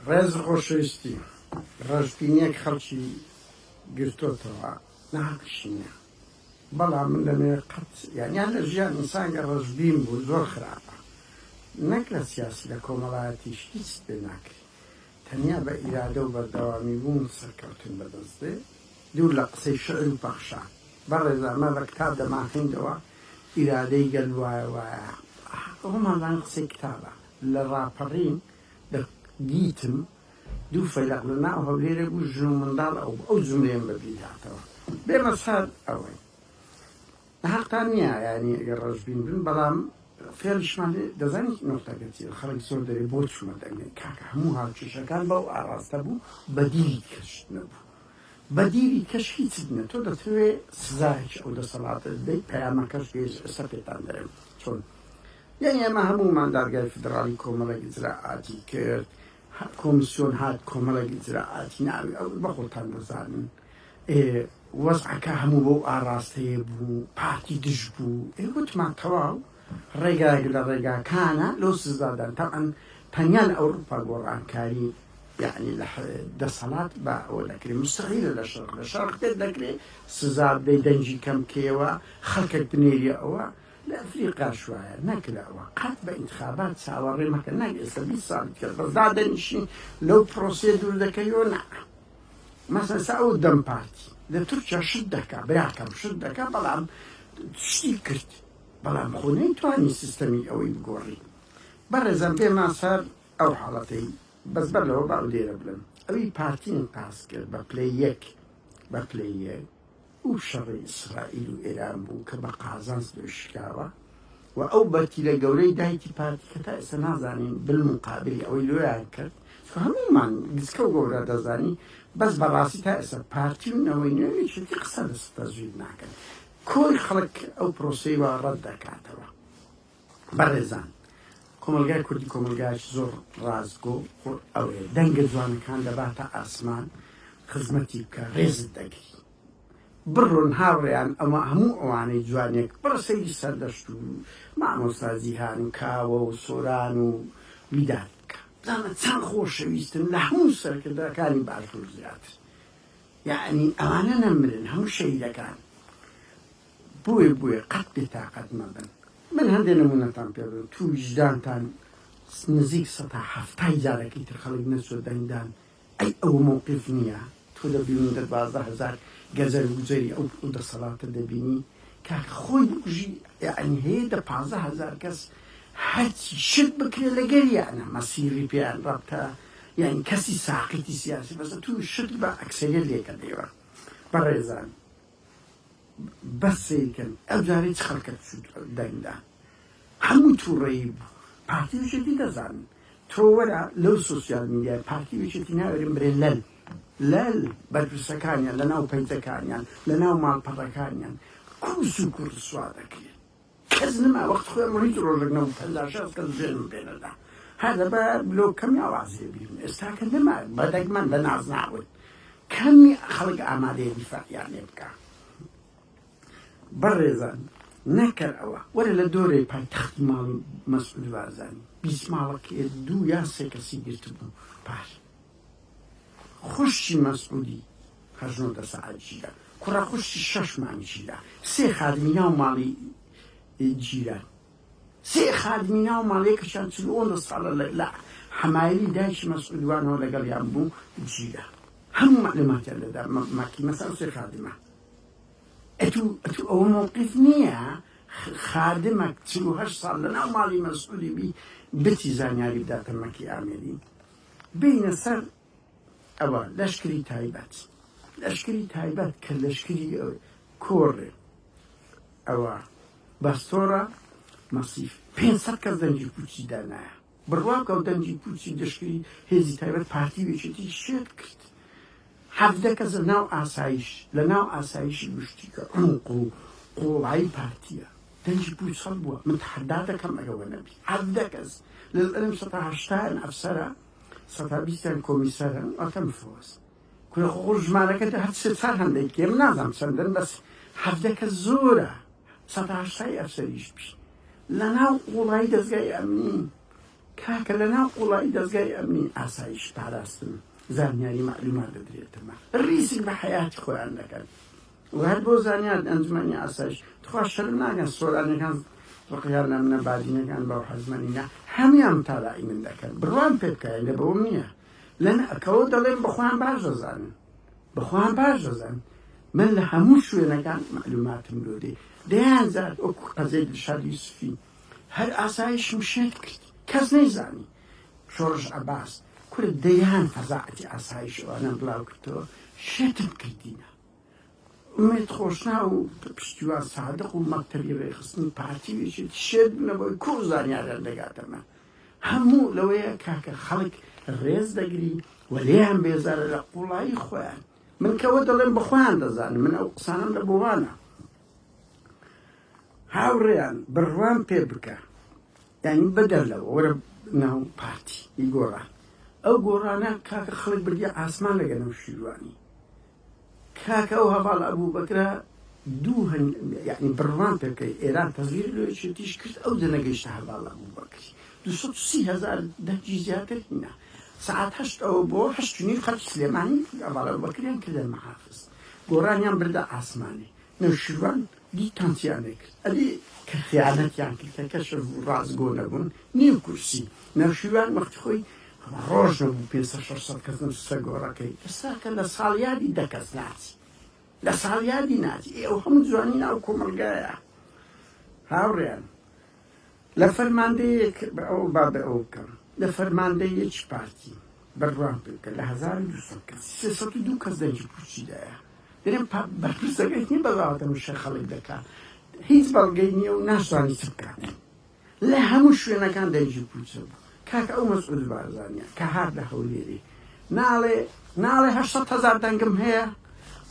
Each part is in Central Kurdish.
ڕێز و خۆشەویستی ڕەشبینیەک خەڵکی گرتۆتەوە ناحەقیشی نیە بەڵام من دەمێ قەت یانیان لە ژیان ئینسانگە ڕەشبین بوو زۆر خراپە نەک لە سیاسی لە کۆمەڵایەتیش هیچ پێ ناکری تەنیا بە ئیرادە و بەردەوامی بوون سەرکەوتن بەدەست دێ دوور لە قسەی شعر و پەخشان بەڕێز ئەمە لە کتاب دەمانخیندەوە ئیرادەی گەل وایە وایە ئەومانزان قسەی کتابە لە ڕاپەڕین دە دیتم دوو فەیلەق لە ناو هەولێرێ بوو ژن و منداڵ ئەو ئەو جوملەیەم بە بیر هاتەوە بێمە سەر ئەوەی هەقتان نییە یانی ئەگەر ڕەشبین بن بەڵام فێڵیشمان لێ دەزانی نۆختەکە چیە خەڵک زۆر دەرێ بۆ چوومە دەنگێ کاکە هەموو هاوکێشەکان بەو ئاڕاستە بوو بەدیلی کەش نەبوو بەدیلی کەش هیچ نە تۆ دەتەوێ سزایەکی ئەو دەسەڵاتە بدەیت پەیامەکەش گەیشت ئێستا پێتان دەرێم چۆن یانی ئێمە هەموومان دادگای فیدڕاڵی کۆمەڵێک ئیجرائاتی کرد، کۆمیسیۆن هات کۆمەڵێک ئیجرائاتی ناوی ئەو بە خۆتان دەزانن ئێ وەزعەکە هەموو بەو ئاڕاستەیە بوو، پارتی دژ بوو، ئێ وتمان تەواو ڕێگایەک لە ڕێگاکانە لۆ سزادان، تەبعەن تەنیا لە ئەوڕوپا گۆڕانکاری یانی لە دەسەڵات بە ئەوە دەکرێ، موستەحیلە لە شەرق، لە شەرق پێت دەکرێ سزا بدەی دەنگی کەم کەیەوە خەڵکەک بنێریە ئەوە، لە ئەفریقا شوایە نەکراوە قەت بە ئینتخابات چاوەڕێ مەکە نەک ئێستا بیست ساڵ دیکە بەس دادەنیشین لەو پرۆسەیە دوور دەکەیەوە نا مەسەن سا ئەو دەم پارتی لە تورکیا شت دەکا براکەم شت دەکا بەڵام شتی کرد بەڵام خۆ نەیتوانی سیستەمی ئەوەی بگۆڕی بەڕێزم پێمان سەر ئەو حاڵەتەی بەس بەر لەوە باو لێرە بلم ئەوی پارتین پاس کرد بە پلەی یەک بە پلەی یەک ئو شەڕی ئیسرائیل و ئێران بوو کە بە قازانج لێ شکاوە و ئەو بەرتیلە گەورەی دایکی پارتی کە تا ئێستا نازانین بالموقابلی ئەوەی لۆیان کرد چکە هەموومان گچکە و گەورە دەزانین بەس بە ڕاستی تا ئێستا پارتی و نەوەی نوێ یەکێتی قسە لەسەر تەزویر ناکەن کۆی خەڵک ئەو پرۆسەی وا ڕەت دەکاتەوە. بەڕێزان کۆمەڵگای کوردی کۆمەڵگایەکی زۆر ڕاستگۆ و قوڕئەوەیە، دەنگە جوانەکان دەباتە ئاسمان خزمەتی بکە ڕێزت دەگرین. بڕۆن هاوڕێیان ئەوە هەموو ئەوانەی جوانیەک بڕە سەیری سەردەشت و مامۆستا جیهان و کاوە و سۆران و ویداد بکە بزانە چەند خۆشەویستن لە هەموو سەرکردەکانی باشوور زیاتر یەعنی ئەوانە نەمرن هەموو شەهیدەکان بۆیە بۆیە قەت بێتاقەت مەبن. من هەندێ نمونەتان پێ دەدەم توو ویژدانتان نزیک سەد تا حەفتا ی جارەکی تر خەڵک نەچووە دەنگدان ئەی ئەوە مەوقیف نییە؟ تۆ دەبینی دە دوازدە هەزار گەجەر گوجەری ئەو دەسەڵاتە دەبینی کە خۆی بکوژی یەعنی هەیە دە پازدە هەزار کەس هەرچی شت بکرێ لەگەر یانە مەسیری پێیان ڕەبتە یانی کەسی ساقیتی سیاسی بەسە توو شت بە ئەکسەریت لێکە دەیوە بەڕێزان بەس سەیر کەن ئەو جارەی چ خەڵکەت چوت دەنگدا هەموو تووڕەیی بوو پارتی وشێتی دەزانن تۆ وەرە لەو سوسیال میدیای پارتی وشێتی ناوێرن برێ لەل لەل بەرپرسەکانیان لە ناو پەیجەکانیان لە ناو ماڵپەڕەکانیان کوس و کوڕسوا دەکرێن کەس نەما وەخت خۆیەم ڕیز ڕۆژەک نەبوو پەنجا شەست کەس ژێرم پێ نەدا هەر دە بە لۆ کەمی ئاواز لێ بگرم ئێستا کە نەما بە دەگمەن بە ناز ناون کەمی خەڵک ئامادەیە دیفاعیان لێ بکا بەڕێزان نەکەر ئەوە وەرە لە دۆرەی پایتەختی ماڵ و مەسعود بارزانی بیست ماڵەکەی دوو یا سێ کەسی گرتبوو پار خوشکی مەسعودی هەژنۆ دە سەعات گیرە کوڕە خوشکی شەش مانگ گیرە سێ خادمی ناو ماڵی گیرە سێ خادمی ناو ماڵی کەشان چل ئۆن دە ساڵە لە لە حەمایلی دایکی مەسعود وانەوە لەگەڵ یان بوو گیرە هەموو معلوماتیان لەدا مەکی مەسەل سێ خادمە ئەتو ئەتو ئەوە موقف نییە خادمە چل و هەشت ساڵ لە ناو ماڵی مەسعودی بی بتی زانیاری بداتە مەکی ئامێری بێینە سەر ئەوە لەشکری تایبەت لەشکری تایبەت کە لەشکری کۆڕێ ئەوە باستۆرە مەسیف پێ کەس دەنگی پوچی دانایە بڕواکە و دەنگی پوچی دەشکری هێزی تایبەت پارتی وێچێتی شێت کرد حەڤدە کەس لە ناو ئاسایش لە ناو ئاسایشی گشتی کە عومق و قووڵایی پارتییە دەنگی پووچ خەڵک بووە من تەحەدا دەکەم ئەگە وە نەبی حەڤدە کەس لەلئلم سەتا هەشتا یان ئەفسەرە سەتا بیست یان کۆمیسەرە واتە مفۆس کورە خۆ خۆ ژمارەکە هەر سێ چار هەندێک کێم نازام چەندن بەس حەڤدە کەس زۆرە سەتا هەشتای ئەفسەریش بی لە ناو قووڵایی دەزگای ئەمنی کاکە لە ناو قوڵایی دەزگای ئەمنی ئاسایش پاراستن زانیاری مەعلومات دەدرێتەوە ڕیسک بە حەیاتی خۆیان دەکەن و هەر بۆ زانیارت ئەنجومەنی ئاسایش تخوا شەرم ناکەن سۆرانیەکان ڕقیان لە منە بادینەکان بەو حەزمە نینە هەمویان متابەعی من دەکەن بڕوام پێ بکە ئێندە بەوەم نییە لە نەکەوە دەڵێم بە خۆیان باش دەزانن بە خۆیان باش دەزانن من لە هەموو شوێنەکان مەعلوماتم لۆ دێ دەیان زار وەکو قەزێ دڵشاد یوسفی هەر ئاسایش و شێت کرد کەس نەیزانی شۆڕش عەباس کورە دەیان فەزاعەتی ئاسایش ئەوانەم بلاو کردەوە شێتم کردینە ئومێد خۆشنا و پشتیوان سادق و مەکتەبی ڕێخستنی پارتی ویشت شێت بنەوەی کو زانیاریان دەگاتەمە هەموو لەوەیە کاکە خەڵک ڕێز دەگری و لێیان بێزارە لە قوڵایی خۆیان من کەوە دەڵێم بەخۆیان دەزانم من ئەو قسانم لە بۆوانە هاوڕێیان بڕوام پێ بکە یعنی بەدەر لەوە وەرە ناو پارتی ی گۆڕان ئەو گۆڕانە کاکە خەڵک بردی ئاسمان لەگە نەو شیروانی کاکە ئەو هەواڵ ئەبوو بەکرا دوو هەن یعنی بڕوان پێ بکەی ئێران تەزویر لۆیشتیش کرد ئەو جەنەگەیشتە هەواڵ ئەبوو بەکری دو سەد و سی هەزار دەنگی زیاتر هینا سعات هەشت ئەوە بۆ هەشت و نیو خەڵکی سلێمانی هەواڵ ئەبوو بەکریان کردە محافز گۆڕانیان بردە ئاسمانی نەوشیروان دیکتانسیانێ کرد ئەبێ کە خیانەتیان کرد کە کەشف بوو ڕاستگۆ نەبوون نیو کورسی نەوشیروان وەختی خۆی ڕۆژ نەبوو پێنج سەد شەش سەد کەس نەوتوسە گۆڕەکەی ئێستا کە لە ساڵیادی دە کەس ناچی لە ساڵیادی ناچی ئێ ئەو هەموو جوانی ناو کۆمەڵگایە هاوڕێیان لە فەرماندەیەک بە ئەو با بە ئەو بکەم لە فەرماندەیەکی پارتی بەروان پێ بکە لە هەزار و دوو سەد کەس سێ سەد و دوو کەس دەنگی پوچی دایە دەێن بەرپرسەکەی هی بەڵاوەتە مشە خەڵک دەکا هیچ بەڵگەی نییە و ناشتوانانی چ بکات لە هەموو شوێنەکان دەنگی پوچە بوو کاک ئەو مەسعود بارزانیە کە هات لە هەولێری ناڵێ ناڵێ هەشت هەزار دەنگم هەیە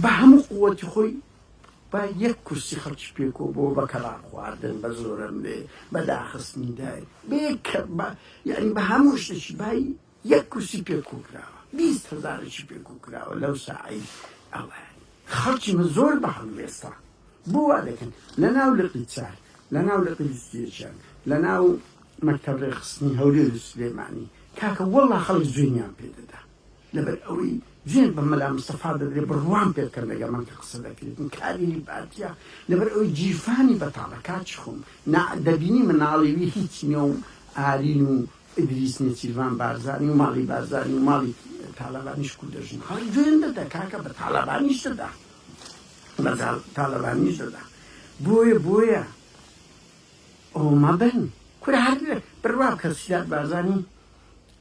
بە هەموو قوتی خۆی با یەک کورسی خەڵکی پێ کۆ بۆ بە کەڵاپ خواردن بە زۆرەم بێ بە داخستنی دای بێ کە با یعنی بە هەموو شتێکی بای یەک کورسی پێ کۆ کراوە بیست هەزارێکی پێ کۆ کراوە لەو ساعەی ئەوە خەڵکی من زۆر بە هەڵوێستا بۆ وا دەکەن لە ناو لقی چار لە ناو لقی وستێشان لە ناو مەکتەب ڕێخستنی هەولێر و سلێمانی کاکە وەڵڵا خەڵک زوێنیان پێ دەدا لەبەر ئەوەی جوێن بە مەلا مستەفا دەدرێ بڕوام پێ بکەن لەگەڵ من کە قسە دەکرێت من کادیری پارتیە لەبەر ئەوەی گیرفانی بەتاڵە کاچی خۆم نا دەبینی مناڵی وی هیچ نیە و ئارین و ئیدریس نێچیرڤان بارزانی و ماڵی بارزانی و ماڵی تالەبانیش کوردە ژن خەڵک جوێن دەدا کاکە بە تالەبانیش دەدا بە تالەبانیش دەدا بۆیە بۆیە ئەوە مەبن کورە هەر بڕوا بکە سیاد بارزانی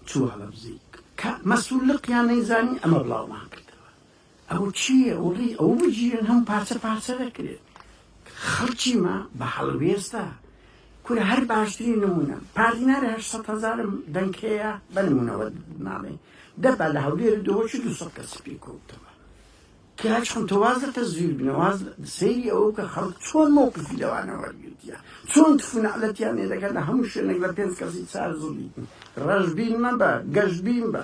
چووە بەبزیک کە مەسول لقیان نەیزانی ئەمە بڵاومان کردەوە ئەوە چییە وەڵی ئەوە بگیرن هەموو پارچە پارچە دەکرێت خەڵکی ما بە هەڵوێستە کورە هەر باشترین نمونە پارتی نارێ هەشت سەد هەزارم دەنگ هەیە بە نمونەوە ناڵێ دەبا لە هەولێر دۆچی دوو سەد کەسی پێکەوتەوە کە چۆن تۆ واز لە تەزویر بنێ واز سەیری ئەوە بکە خەڵک چۆن مەوقفی لەوانە وەرگرتیە چۆن تف و نەعلەتیان لێ دەکەن لە هەموو شوێنێک لە پێنج کەسی چار زوڵی ڕەشبین مەبە گەشبین بە